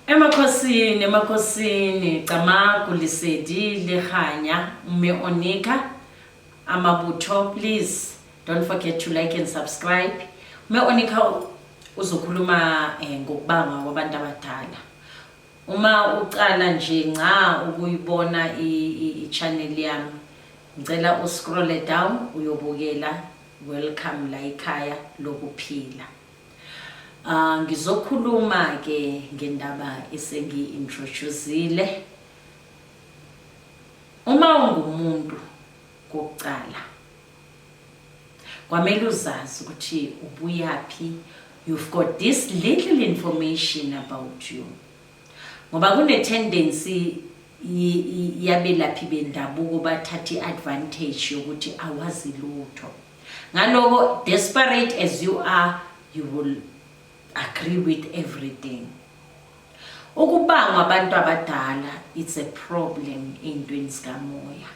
Emakhosini, emakhosini, Camagu, Lesedi, Lekganya, Mme Onika, Amabutho, please don't forget to like and subscribe. Mme Onika uzokhuluma eh, ngokubangwa kwabantu abadala. Uma ucala nje nca ukuyibona i-channel yami, ngicela uscrolle down uyobukela welcome la ikhaya lokuphila. Ah ngizokhuluma ke ngendaba esengi introduceile. Uma ungumuntu kokucala kwamele uzazi ukuthi ubuyaphi you've got this little information about you. Ngoba kune tendency yabelaphi bendabuko bathatha iadvantage yokuthi awazi lutho. Ngaloko desperate as you are, you will agree with everything. Ukubangwa abantu abadala it's a problem eintweni sikamoya.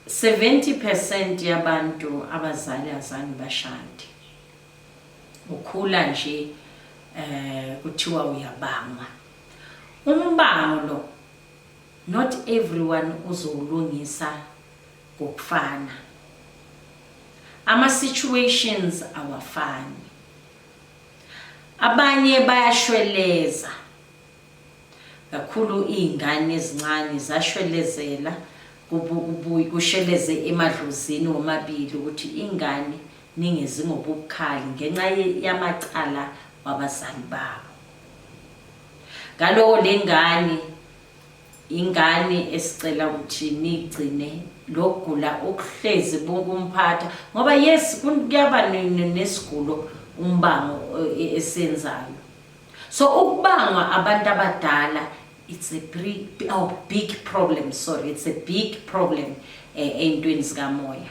70% yabantu abazali azange bashade. Ukhula nje eh kuthiwa uyabangwa. Umbango lo Not everyone uzowulungisa ngokufana. Ama situations awafani. Abanye bayashweleza. Kakhulu izingane ezincane zashwelezela kubuyi kusheleze emadlozini womabili ukuthi ingane ningezi ngobukhali ngenxa yamacala wabazali babo. Ngaloko le ngane ingane esicela ukuthi nigcine lokugula okuhlezi bunkumphatha ngoba yes kuyaba nesigulo umbango e, esenzayo so ukubangwa abantu abadala it's a big, oh, big problem sorry it's a big problem eh, ey'ntweni zikamoya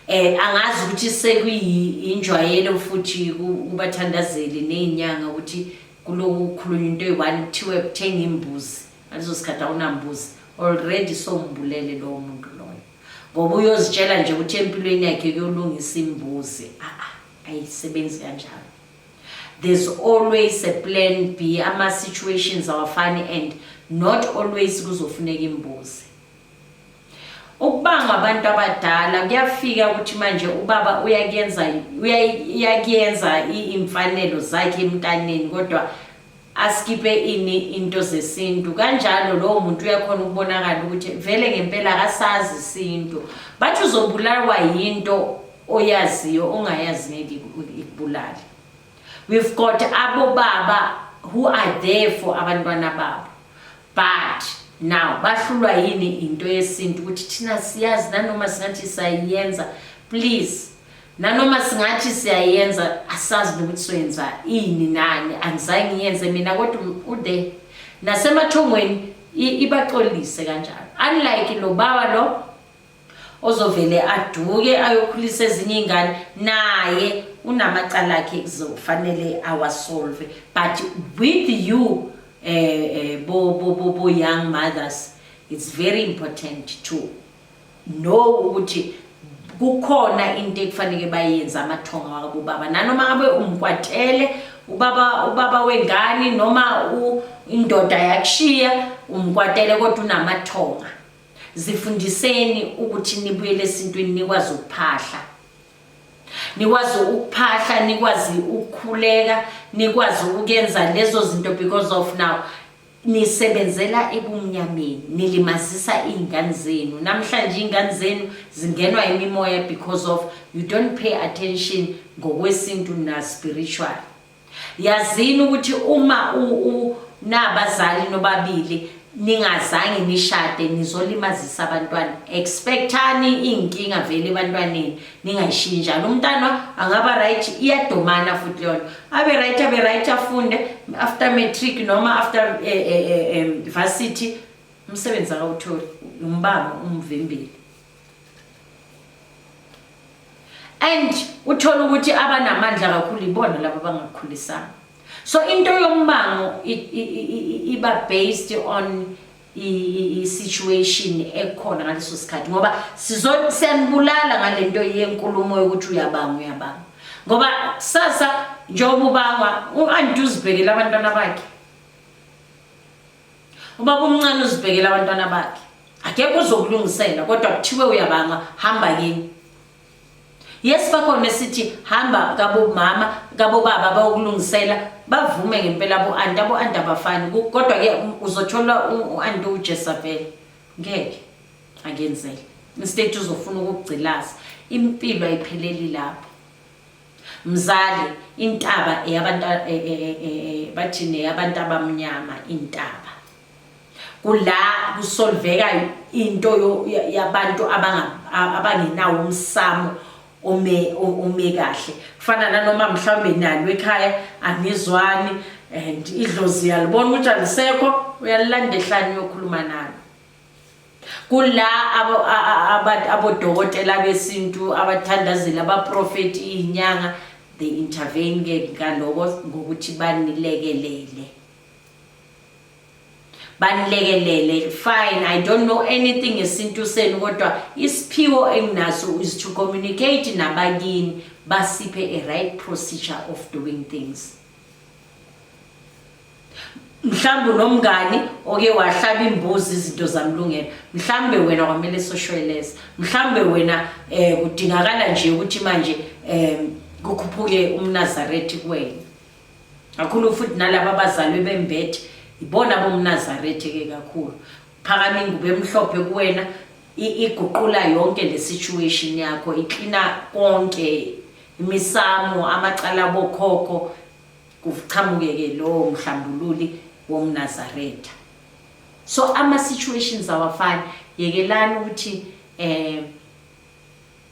eh angazi ukuthi sekuyinjwayelo futhi kubathandazeli nezinyanga ukuthi Kuloku kukhulunywa into eyi-one kuthiwe kuthenga imbuzi ngaleso sikhathi awunambuzi already sombulele lowo muntu loyo ngoba uyozitshela nje ukuthi empilweni yakhe kuyolungisa imbuzi a-a ayisebenzi kanjalo there's always a plan b ama-situations awafani and not always kuzofuneka imbuzi Ukubangwa abantu abadala kuyafika ukuthi manje ubaba uyakuyenza uyakuyenza imfanelo zakhe emntaneni kodwa askipe ini into zesintu kanjalo lowo muntu uyakhona ukubonakala ukuthi vele ngempela akasazi isintu bathi uzobulawa yinto oyaziyo ongayazi ngeke ikubulale we've got abobaba who are there for abantwana babo but now bahlulwa yini into yesintu ukuthi thina siyazi nanoma singathi siyayenza please nanoma singathi siyayenza asazi nokuthi soyenza ini nani angizange ngiyenze mina kodwa ude nasemathongweni ibaxolise kanjalo unlike lo baba lo ozovele aduke ayokhulisa ezinye ingane naye unamacala akhe kuzofanele awasolve but with you eh, eh bo bo bo bo young mothers it's very important to know ukuthi kukhona into ekufanele bayenze amathonga wabo baba nanoma ngabe umkwatele ubaba ubaba wengane noma indoda yakushiya umkwatele kodwa unamathonga zifundiseni ukuthi nibuyele esintwini nikwazi ukuphahla nikwazi ukuphahla nikwazi ukukhuleka nikwazi ukuyenza lezo zinto because of now nisebenzela ebumnyameni nilimazisa iy'ngane zenu namhlanje iy'ngane zenu zingenwa imimoya because of you don't pay attention ngokwesintu na-spiritual yazini ukuthi uma unabazali nobabili ningazange nishade nizolimazisa abantwana expectani iy'nkinga vele ebantwaneni ningayishiyi njalo umntana angaba right iyadomana futhi leyona abe right abe right afunde after matric noma after eh, eh, eh, varsity umsebenzi akawutholi umbanga umvimbile and uthola ukuthi abanamandla kakhulu ibona laba bangakhulisanga so into yombango iba based on i-situation ekhona ngaleso sikhathi ngoba siyanibulala ngale nto yenkulumo yokuthi uyabanga uyabanga ngoba sasa njengoba ubangwa u-anti uzibhekele abantwana bakhe Ubaba umncane uzibhekela abantwana bakhe. Akekho uzokulungisela kodwa kuthiwe uyabanga hamba kini. Yes bakhona esithi hamba kabo mama kabo baba bayokulungisela bavume ngempela bo anti abo anti abafani kodwa ke uzothola uanti uJesabel ngeke akenzele. Mistake uzofuna ukugcilaza impilo ayipheleli lapho. Mzali, intaba eyabantu e, e, e, bathini eyabantu abamnyama intaba. Kula kusolveka into yabantu abangenawo umsamo ome ome kahle. Kufana nanoma mhlawumbe nalo ekhaya anizwani and idlozi yalibona ukuthi alisekho uyalilandehlani uyokhuluma nalo. kula abodokotela besintu abathandazeli abaprofethi iyinyanga they intervene ke ngaloko ngokuthi banilekelele banilekelele fine i don't know anything ngesintu senu kodwa isiphiwo enginaso is to communicate nabakini basiphe a right procedure of doing things mhlawumbe unomngani oke wahlaba imbuzi izinto zamlungela mhlawumbe wena kwamele soshweleza mhlawumbe wena um kudingakala nje ukuthi manje um kukhuphuke umnazarethi kuwena kakhulu futhi nalaba abazalwe bembethe ibona bomnazarethi ke kakhulu phakama ingubo emhlophe kuwena iguqula yonke le situation yakho iklina konke imisamo amacala bokhokho kuqhamuke-ke lowo mhlambululi womnazaretha so ama-situations awafani yekelani ukuthi um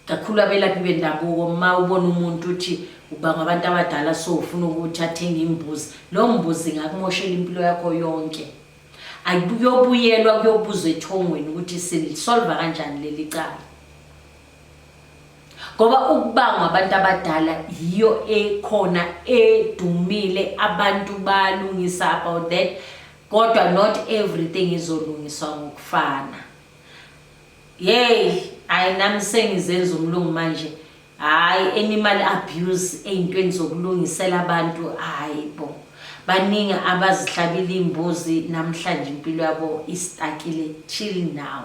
kakhulu abelaphi bendabuko uma ubona umuntu uthi uba ngabantu abadala so ufuna ukuthi athenge imbuzi loo mbuzi ingakumoshela impilo yakho yonke ayikuyobuyelwa kuyobuzwa ethongweni ukuthi silisolva kanjani leli cala ngoba ukubangwa abantu abadala yiyo ekhona edumile abantu balungisa about that kodwa not everything izolungiswa ngokufana yeyi hayi nami sengizenza umlungu manje hayi animal abuse ey'ntweni zokulungisela abantu hayi bo baningi abazihlabile iy'mbuzi namhlanje impilo yabo istakile chill now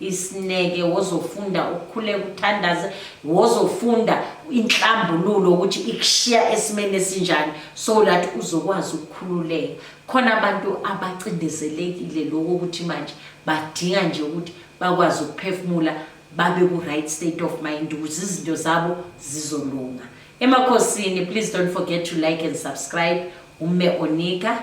isineke wozofunda ukukhuleka uthandaze wozofunda inhlambululo ukuthi ikushiya esimeni esinjani so that uzokwazi ukukhululeka khona abantu abacindezelekile lokho ukuthi manje badinga nje ukuthi bakwazi ukuphefumula babe ku-right state of mind ukuze izinto zabo zizolunga emakhosini please don't forget to like and subscribe umme onika